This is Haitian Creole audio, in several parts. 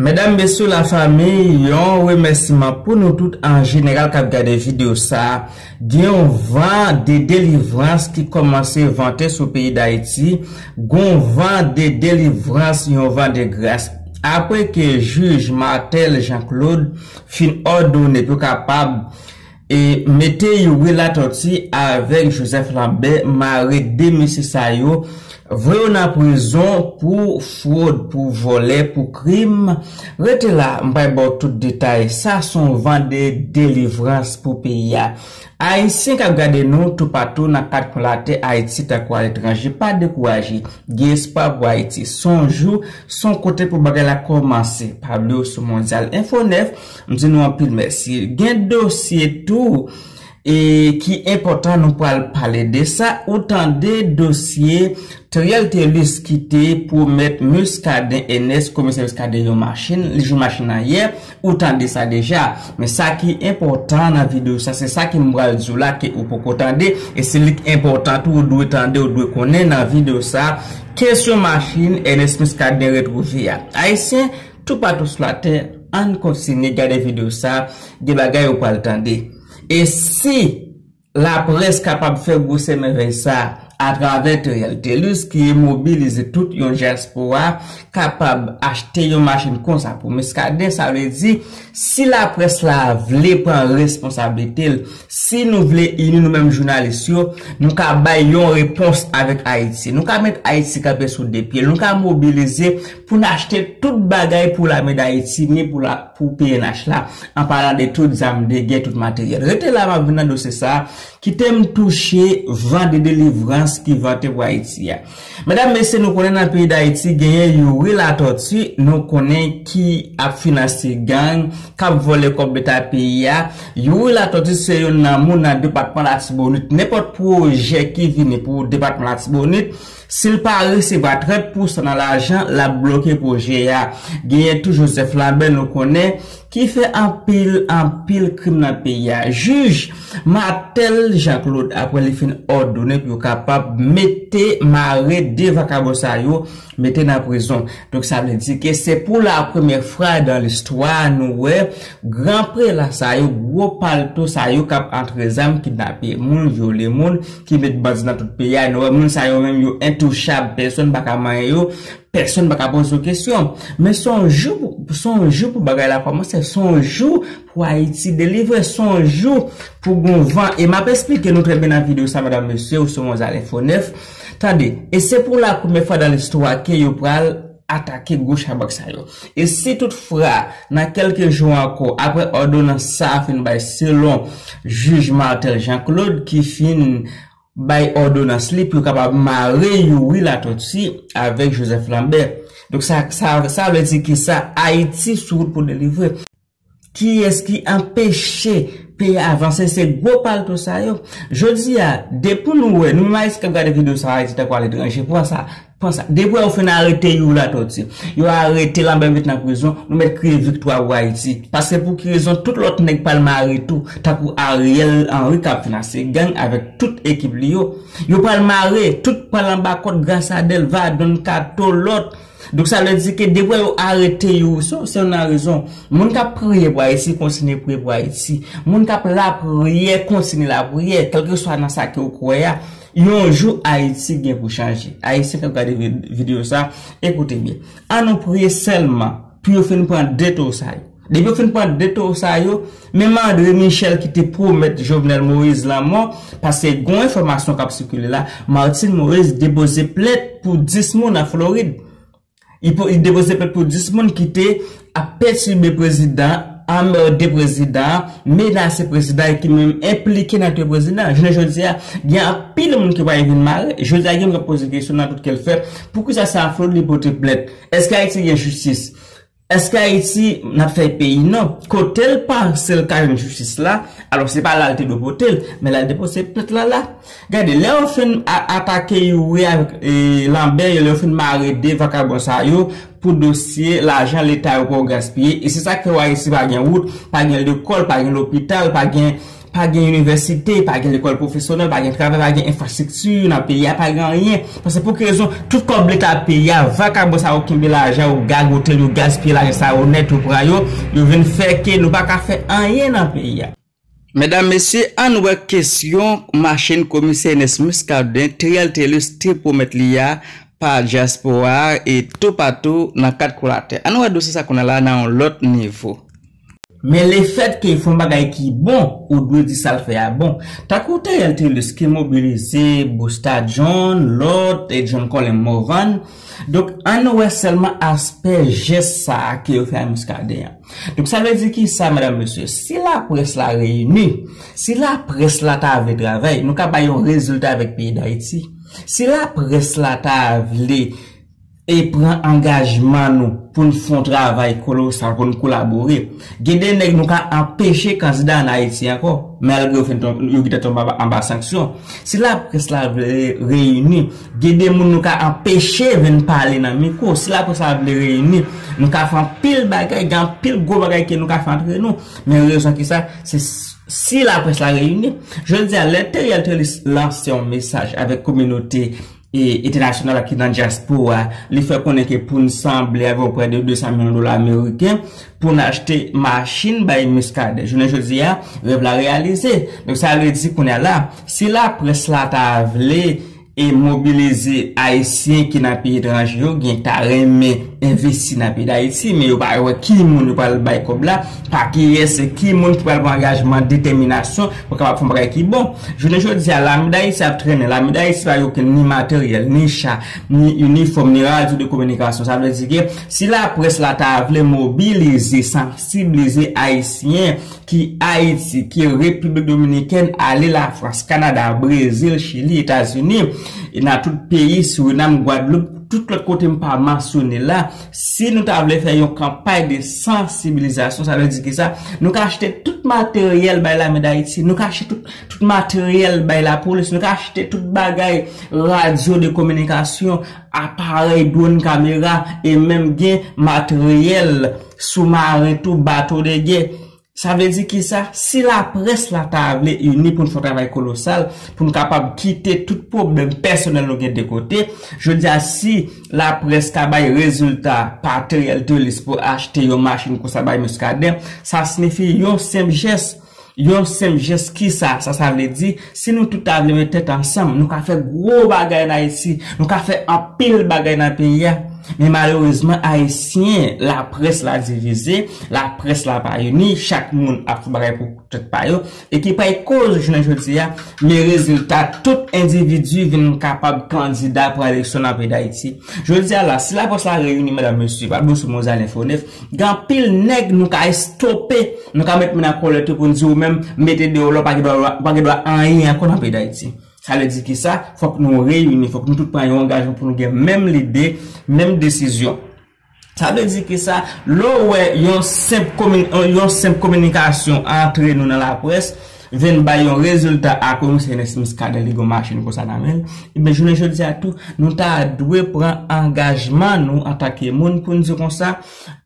Medam mesye la famille yon remèsiman pou nou tout an jeneral kap gade video sa gen yon van de delivrans ki kòmanse vante sou peyi dayiti gon van de delivrans yon van de gras apre ke jij Marthel Jean Claude fin òdone pou kapab E mete yon relatòti avèk Joseph Lambert mare 2 mesye sa yo voye yo nan prizon pou frod pou vòlè pou krim rete la m pral baw tout detay sa son van de delivrans pou peyi a ayisyen kap gade nou toupatou nan 4 kwen latè ayiti tankou aletranje pa dekouraje gen espwa pou ayiti son jou son kote pou bagay la kòmanse pa bliw sou mondyal info 9 M di nou anpil mèsi. Gen dosye tou e ki enpòtan nou pral pale de sa. Ou tande dosye Theriel Thelus ki te pwomèt Muscadin Enes, komisè Muscadin yon machin, li jwenn machin nan yè. Ou tande sa deja. Men sa ki enpòtan nan videyo sa, se sa ke m pral di w la ke ou poko tande e se li k enpòtan tou ou dwe tande, ou dwe konnen nan videyo sa. Kesyon machin Enes Muscadin retwouve a. Ayisyen. Toupatou sou latè ann kontinye gade video sa gen bagay ou pral tande e si laprès kapab fè gwosè mèvèy sa atravè Theriel Thelus ki mobilize tout yon dyaspora kapab achte yon machin konsa pou Muscadin sa vle di si laprès la vle pran responsablite l si nou vle ini nou menm jounalis yo nou ka bay yon repons avèk Ayiti nou ka met Ayiti kanpe sou 2 pye l nou ka mobilize Pou n achte tout bagay pou lame Dayiti ni pou la pou pnh la, an palan de tout zam de gè, tout materyèl. Rete la m ap vin nan dosye sa a, kite m touche van de delivrans ki vante pou Ayiti a. Medam, mesye, nou konnen nan peyi Dayiti genyen Youri Latòti, nou konnen ki ap finanse gang, k ap vòlè kòb leta peyi a. Youri Latòti se youn nan moun nan depatman Latibonit. Nenpòt pwojè ki vini pou depatman Latibonit, Si l pa resevwa 30 pousan nan lajan l ap bloke pwojè a. Genyen tou Joseph Lambert nou konnen ki fè anpil anpil krim nan peyi a. Jij Marthel Jean Claude aprè li fin òdone pou yo kapab mete mare 2 vakabon sa yo mete nan prizon. Donk sa vle di ke se pou la premyè fwa dan listwa nou wè gran prela sa yo, gwo palto sa yo k ap antre zam, kidnape moun, vyole moun. ki met bandi nan tout peyi a, nou wè moun sa yo menm yo entouchab, pèsonn pa ka manyen yo, pèsonn pa ka poze yo kesyon. Men se yon jou pou, se yon jou pou bagay la kòmanse, se yon jou pou Ayiti delivre, se yon jou pou gon van. E m ap esplike nou trè byen nan videyo sa medam mesye, ou se yon zale fo nèf. Tande, e se pou la premye fwa dan listwa ke yo pral. atake gwo chabrak sa yo. E si tout fra, nan kèlke jou ankò, apre òdonans sa a fin bay selon jij Marthel Jean Claude ki fin bay òdonans li pou yo kapab mare Youri Latortue avèk Joseph Lambert. Donk sa sa vle di ki sa? Ayiti sou wout pou delivre. Kiyès ki anpeche peyi avanse se gwo palto sa yo jodi a depi nou wè nou menm ayisyen kap gade video sa ayiti tankou aletranje pran sa pran sa depi wè yo fin arete you latoti yo arete lanbè met nan prizon nou mèt kriye viktwa pou ayiti paske pou ki rezon tout lòt nèg pral mare tou tankou ariel henry kap finanse gang avèk tout ekip li yo yo pral mare tout pral anba kòd grasa delva don kato lòt. Donk sa vle di ke depwa yo arete yo se yon nan rezon. Moun kap priye pou Ayiti kontinye priye pou Ayiti. Moun kap lapriyè kontinye lapriyè kèlkeswa nan sa ke ou kwè a. Yon jou Ayiti gen pou chanje. Ayisyen kap gade video sa, ekoute byen. An nou priye sèlman pou yo fin pran 2 to sa yo. Depi yo fin pran 2 towo sa yo, menm Andre Michel ki te pwomèt Jovenel Moïse lanmò, paske gon enfòmasyon kap sikile la, Martine Moïse depoze plent pou 10 moun an Florid. Li depoze plent pou 10 moun ki te ap pètibe prezidan, anmède prezidan, menase prezidan e ki menm enplike nan touye prezidan. Jounen jodi a, gen anpil moun ki pral vin mare. Jodi a gen moun kap poze kesyon nan tout kè l fè, poukisa se an Florid li pote plent? Eske Ayiti gen jistis? Eske ayiti nap fè peyi non. Kotel pansel ka jwenn jistis la, alò se pa la li te dwe potel, men lal depose plent la la. Gade lè yo fin atake youri avk lanbè yo lè yo fin mare 2 vakabon sa yo pou dosye lajan leta yo poko gaspiye e se sak fè w ayiti pa gen wout, pa gen lekol, pa gen lopital, pa gen. Pa gen inivèsite, pa gen lekòl pwofesyonèl, pa gen travay, pa gen enfrastrikti nan peyi a, pa gen anyen. Paske pou ki rezon, tout kòb leta peyi a, vakabon sa yo kenbe lajan yo, gagote l, yo gaspiye lajan sa yo nèt, yo pran yo, yo vin fè ke nou pa ka fè anyen nan peyi a. Medam, mesye, ann wè kesyon machin komisè Enès Miskaden, Trial Telus, te pwomèt li a pa dyaspora a e toupatou nan kat kou latè. Ann wè dosye sa kounye a la nan yon lòt nivo. Men lefèt ke fon bagay ki bon ou dwe di sal fè a bon. Tankou Theriel Thelus ki mobilize Busta John, lòt, John Colin Morvan. Donk ann wè sèlman aspè jès sa a ke yo fè a Muscadin an. Donk sa vle di kisa medam mesye? Si laprès la reyini, si laprès la ta vle travay, nou ka bay yon rezilta avèk peyi Dayiti. Si laprès la ta vle. e pran angajman nou pou n fon travay kolosal pou n kolabore, gen de nèg nou ka anpeche kandida an Ayiti ankò, malgre yo fenn yo gentan tonbe anba sanksyon. Si laprès la vle reyini, gen de moun nou ka anpeche venn pale nan mikwo. Si laprès la vle reyini, nou ka fè anpil bagay, gen anpil gwo bagay ke nou ka fè antre nou. Men rezon ki sa, se si laprès la reyini. Jodi a, lè Theriel Trélis lanse yon mesaj avèk kominote. entènasyonal la ki nan dyaspora, li fè konnen ke pou n sanble avè w prè de 200 milyon dola ameriken pou n achte machin bay Muscadin. Jounen jodi a, rèv la reyalize. Donk sa vle di kounye a la, si laprès la ta vle e mobilize ayisyen ki nan peyi etranje yo, gen ta renmen envesti nan peyi Dayiti, men yo pa wè ki moun yo pral bay kòb la. pa kiyès, ki moun ki pral pran angajman, detèminasyon pou kapab fè yon bagay ki bon. Jounen jodi a, Lame Dayiti ap trennen. Lame Dayiti pa gen okenn ni materyèl, ni cha, ni inifòm, ni radyo de kominikasyon. Sa vle di ke si laprès la ta vle mobilize, sansiblize Ayisyen ki Ayiti, ki Repiblik Dominikèn, ale Lafrans, Kanada, Brezil, Chili, Etazini, e nan tout peyi Suriname, Gwadloup, tout lòt kote m pa mansyone la, Si nou ta vle fè yon kanpay de sansibilizasyon, sa vle di ki sa? Nou ka achte tout materyèl bay lame dayiti, nou ka achte tout materyèl bay lapolis, nou ka achte tout bagay, radyo de kominikasyon, aparèy, dwon, kamera, e menm gen materyèl soumaren tou, bato de gè. Sa vle di kisa? Si laprès la ta vle ini pou n fè yon travay kolosal, pou n kapab kite tout pwoblèm pèsonèl nou gen de kote, jodi a si laprès ta bay rezilta pateryèl Thelis pou achte yon machin konsa bay Muscadin, sa sinifi yon senp jès. Yon senp jès kisa sa sa vle di? Si nou tout ta vle met tèt ansanm, nou ka fè gwo bagay an Ayiti, nou ka fè anpil bagay nan peyi a. Men malerezman Ayisyen, laprès la divize, laprès la pa ini, chak moun ap fè bagay pou tèt pa yo, e ki pral koz jounen jodi a, men rezilta tout endividi vin kapab kandida pou eleksyon nan peyi Dayiti. Jodi a la, si laprès la reyini medam mesye, pa bousu mozal enfo 9, Gen anpil nèg nou ka estope, nou ka met moun an kòlèt yo pou n di ou menm mete deyò la w pa gen dwa ou pa gen dwa anyen ankò nan peyi Dayiti. Sa vle di ki sa, fòk nou reyini, fòk nou tout pran yon angajman pou nou gen menm lide, menm desizyon. Sa vle di ki sa, lè w wè yon senp kominikasyon antre nou nan laprès, vin bay yon rezilta a ke Misye Ernest Muscadin li gen yon machin konsa nan men l, ebyen jounen jodi a tou nou ta dwe pran angajman nou antanke moun pou n di konsa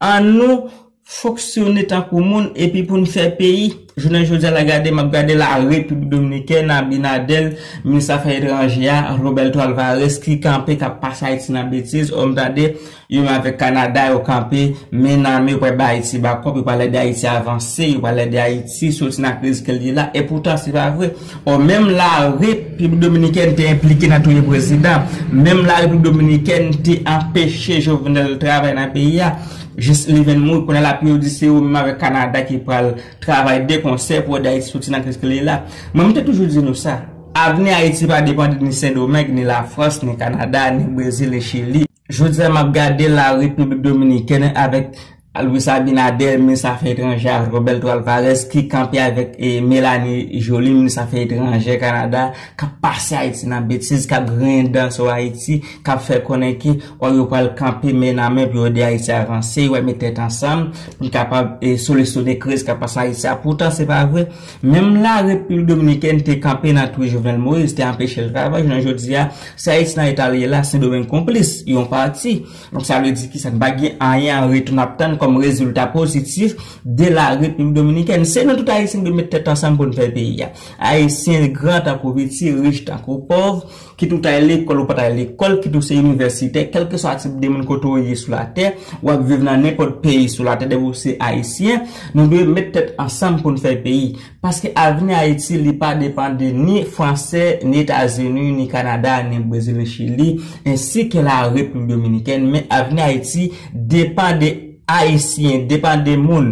an nou fonksyone tankou moun epi pou n fè peyi. Jounen jodi a la gade m ap gade la Repiblik Dominikèn Abinadèl minis afè etranje a Roberto Alvarez ki kanpe k ap pase Ayiti nan betiz o m tande Yo menm avèk Kanada yo kanpe men nan men yo pral bay Ayiti bakòp, yo pral ede Ayiti avanse, yo pral ede Ayiti soti nan kriz ke l ye la, epoutan se pa vre. Ò menm la Repiblik Dominikèn te enplike nan touye prezidan, menm la Repiblik Dominikèn te anpeche Jovenel travay nan peyi a jis li vin mouri, kounye a la pou yo di se yo menm avèk Kanada ki pral travay de konsè pou ede Ayiti soti nan kriz ke l ye la. Mwen m te toujou di nou sa, avni Ayiti pa depande ni Sendomeng, ni Lafrans, ni Kanada, ni Brezil, ni Chili. Jodi a map gade la République Dominicaine avèk Luis Abinader minis afè etranjè a Roberto Alvarez ki kanpe avèk Melanie Joly minis afè etranjè Canada kap pase Ayiti nan betiz kap griyen dan sou Ayiti kap fè konnen ke o yo pral kanpe men nan men pou yo ede Ayiti avanse yo pral met tèt ansanm pou kapab solisyone kriz kap pase Ayiti a poutan se pa vre Menm la Repiblik Dominikèn te kanpe nan twi Jovenel Moïse, te anpeche l travay, jounen jodi a, si Ayiti nan eta l ye la, Sendomeng konplis, yon pati. Donk sa vle di ki sa? N pa gen anyen an retou n ap tann kòm rezilta pozitif de la Repiblik Dominikèn. Se nou tout Ayisyen ki dwe met tèt ansanm pou n fè peyi a. Ayisyen gran tankou piti, rich tankou pòv. Kit ou ta lekòl ou pa ta lekòl, kit ou se inivèsitè, kèlkeswa tip de moun kote ou ye sou latè, ou ap viv nan nenpòt peyi sou latè depi ou se ayisyen, nou dwe met tèt ansanm pou n fè peyi. Paske avni Ayiti li pa depan de ni fransè, ni etazini, ni kanada, ni brezil, ni chili, ensi ke la repiblik dominikèn, men avni Ayiti depan de ayisyen, depan de moun.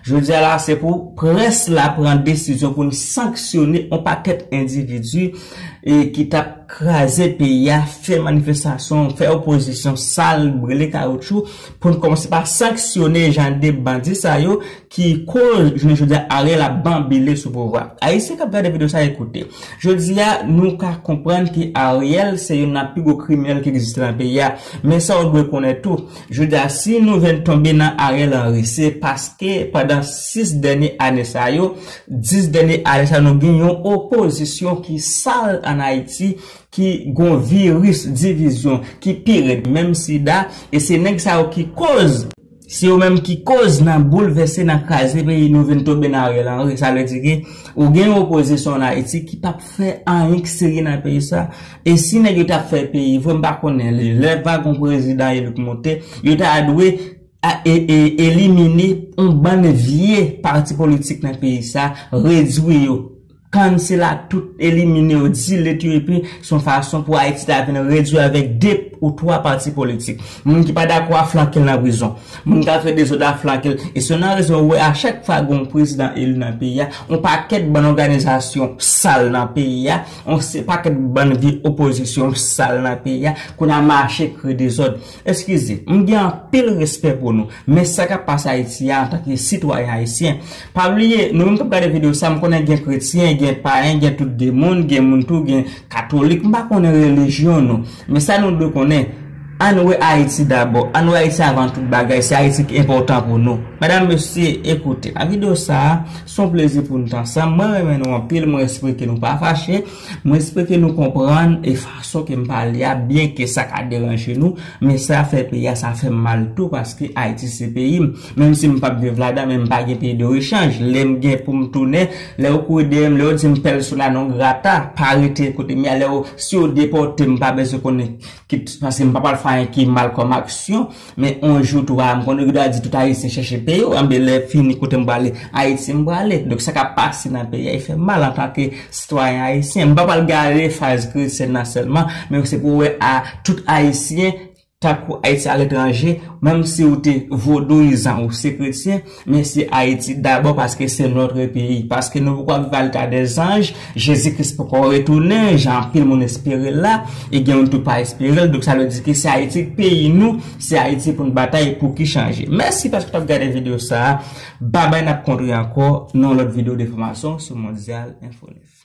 Jodia la se pou près la pran desizyon pou n sanksyone on pakèt endividi ki tap kraze peyi a, fè manifestasyon, fè opozisyon sal, brele kawoutchou, pou n kòmanse pa sanksyone jan de bandi sa yo ki koz jounen jodia Ariel ap banbile sou pouvwa. Ayisyen kap gade video sa e koute. Jodia nou ka konprann ke Ariel se youn nan pi gwo kriminèl ki egziste nan peyi a, men sa w dwe konnen tou, Jodia si nou vin tonbe nan Ariel Henry se paske pandan 6 dènye ane sa yo, 10 dènye ane sa yo nou gen yon opozisyon ki sal an Ayiti, ki gon viris divizyon ki pi rèd menm sida, e se nèg sa yo ki koz, se yo menm ki koz nan boulvèse, nan kraze peyi nou vin tonbe nan Ariel Henry. Sa vle di ke ou gen yon opozisyon an Ayiti ki pap fè anyen ki serye nan peyi sa. E si nèg yo tap fè peyi vre m pa konnen lè va gon prezidan eli k moute yo ta dwe elimine on bann vye pati politik nan peyi sa redwi yo cancel a tout elimine yo delete yo epi s on fason pou ayiti ta vin redwi avèk 2 ou 3 pati politik moun ki pa dakò a flanke l nan prizon moun kap fè dezòd a flanke l e se nan rezon ou wè a chak fwa gon prezidan eli nan peyi a on pakèt bann òganizasyon sal nan peyi a On se paket bann vye opozisyon sal nan peyi a kounye a mache kreye dezod eskize m gen anpil respè pou nou men sa kap pase ayiti a antanke sitwayen ayisyen pa bliye nou menm kap gade video sa m konnen gen kretyen gen payen gen tout de moun gen moun tou gen katolik m pa konnen relijyon nou men sa nou dwe konnen ann wè ayiti dabò ann wè ayiti avan tout bagay se ayiti ki enpotan pou nou medam mesye ekoute nan video sa. Son plezi pou nou t ansanm. Mwen renmen nou anpil, mwen espere nou pa fache, mwen espere nou konprann e fason ke m pale a byen ke sa ka deranje nou, men sa fè peyi a sa fè m mal tou paske Ayiti se peyi m. Menm si m pap viv ladan men m pa gen peyi de rechanj. Lè m gen pou m tounen, lè yo kouri dèyè m, lè yo di m persona non grata, pa rete kote m ye a, lè yo, si yo depòte m m pa bezwen konnen ki, paske m pa pral fè anyen ki mal kòm aksyon. Men on jou tou a, m konnen yo ta di tout ayisyen chèche peyi yo, anben lè fini kote m prale, Ayiti m prale. Donk sa k ap pase nan peyi a e fè m mal antanke sitwayen ayisyen. M pa pral gade faz Christian nan sèlman, men se pou w wè a tout ayisyen tankou ayisyen aletranje, menm si w te vodouyizan ou se kretyen, Mesi Ayiti dabò paske se notre peyi, paske nou poko ap viv al ta des anges, Jezi Kris poko retounen jan anpil moun esperel la, e gen moun tou pa esperel, donk sa vle di ke se Ayiti k peyi nou, se Ayiti poun batay pou ki chanje. Mèsi paske wap gade video sa a, babay nap kontre ankò nan yon lòt video de enfòmasyon sou Mondial Info 9.